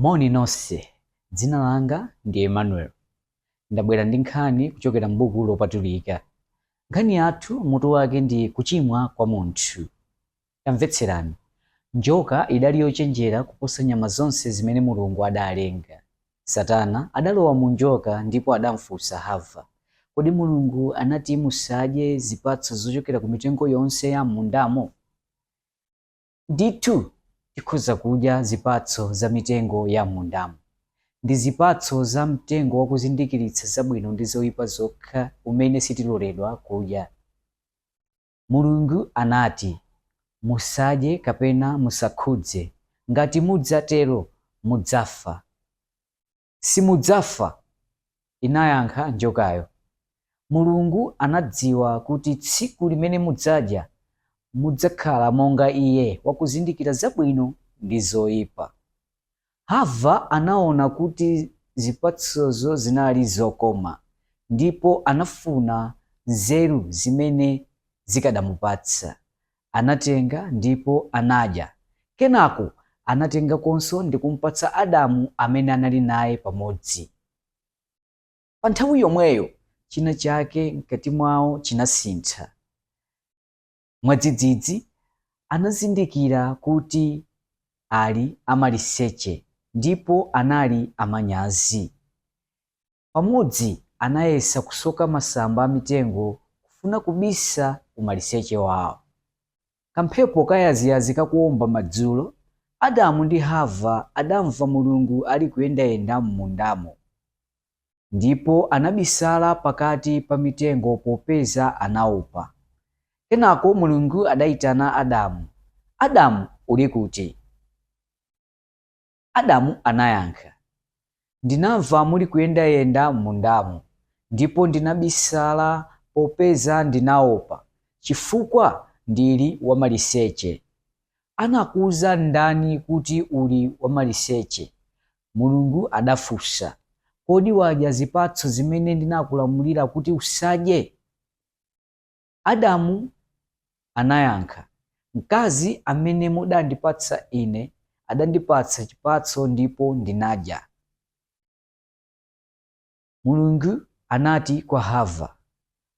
Moni nonse. Dzina langa ndi Emmanuel. Ndabwera ndi nkhani kuchokera m'Buku Lopatulika. Nkhani yathu mutu wake ndi Kuchimwa kwa Munthu. Tamvetserani. Njoka idali yochenjera kuposa nyama zonse zimene Mulungu adalenga. Satana adalowa mu njoka ndipo adamfunsa Hava, Kodi Mulungu anati musadye zipatso zochokera ku mitengo yonse ya m'mundamo? Ndithu tikhoza kudya zipatso za mitengo ya m'mundamu. Ndi zipatso za mtengo wakuzindikiritsa zabwino ndi zoipa zokha umene sitiloledwa kudya. Mulungu anati, Musadye kapena musakhudze, ngati mudzatero mudzafa. Simudzafa, inayankha njokayo. Mulungu anadziwa kuti tsiku limene mudzadya, mudzakhala monga iye, wakuzindikira zabwino ndi zoipa. Hava anaona kuti zipatsozo zinali zokoma ndipo anafuna nzeru zimene zikadamupatsa Anatenga ndipo anadya. Kenako anatengakonso ndi kumpatsa Adamu amene anali naye pamodzi. Pa nthawi yomweyo, china chake mkati mwawo chinasintha. Mwadzidzidzi, anazindikira kuti ali amaliseche ndipo anali amanyazi. pamodzi anayesa kusoka masamba a mitengo kufuna kubisa umaliseche wawo. Kamphepo kayaziyazi kakuwomba madzulo, Adamu ndi Hava adamva Mulungu alikuyendayenda m'mundamo. Ndipo anabisala pakati pa mitengo popeza anaopa. Kenako Mulungu adaitana Adamu, Adamu, uli kuti? Adamu anayankha, Ndinamva muli kuyendayenda m'mundamu, ndipo ndinabisala popeza ndinaopa, chifukwa ndili wamaliseche. Anakuuza ndani kuti uli wamaliseche? Mulungu adafunsa. Kodi wadya zipatso zimene ndinakulamulira kuti usadye? Adamu anayankha, Mkazi amene mudandipatsa ine adandipatsa chipatso ndipo ndinadya. Mulungu anati kwa Hava,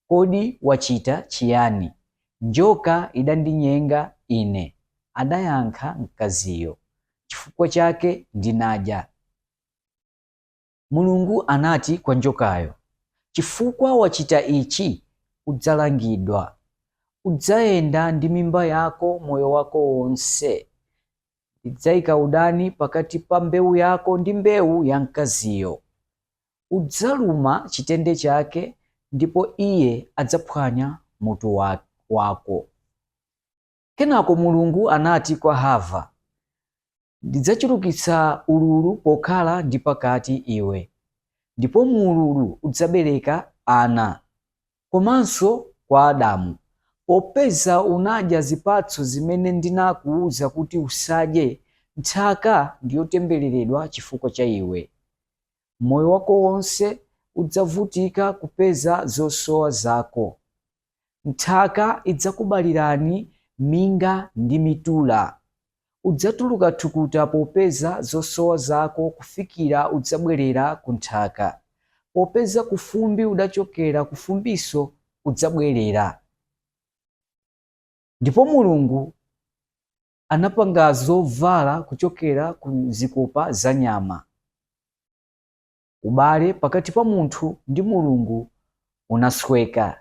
Kodi wachita chiyani? Njoka idandinyenga ine, adayankha mkaziyo, chifukwa chake ndinadya. Mulungu anati kwa njokayo, Chifukwa wachita ichi, udzalangidwa. Udzayenda ndi mimba yako moyo wako wonse. Ndidzaika udani pakati pa mbewu yako ndi mbewu ya mkaziyo. Udzaluma chitende chake ndipo iye adzaphwanya mutu wako. Kenako Mulungu anati kwa Hava, Ndidzachulukitsa ululu pokhala ndi pakati iwe, ndipo mu ululu udzabereka ana. Komanso kwa Adamu, Popeza unadya zipatso zimene ndinakuuza kuti usadye, nthaka ndi yotembereredwa chifukwa cha iwe. moyo wako wonse udzavutika kupeza zosowa zako. Nthaka idzakubalirani minga ndi mitula. Udzatuluka thukuta popeza zosowa zako kufikira udzabwerera ku nthaka, popeza kufumbi udachokera, kufumbinso udzabwerera. Ndipo Mulungu anapanga zovala kuchokera ku zikopa za nyama. Ubale pakati pa munthu ndi Mulungu unasweka.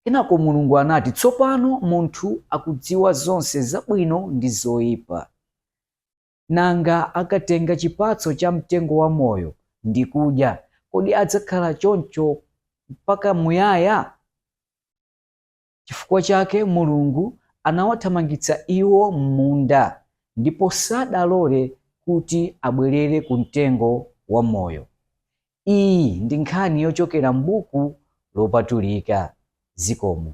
Kenako Mulungu anati, tsopano munthu akudziwa zonse zabwino ndi zoyipa. Nanga akatenga chipatso cha mtengo wa moyo ndi kudya, kodi adzakhala choncho mpaka muyaya? Chifukwa chake Mulungu anawathamangitsa iwo mmunda, ndipo sadalole kuti abwerere ku Mtengo wa Moyo. Iyi ndi nkhani yochokera m'Buku lopatulika. Zikomo.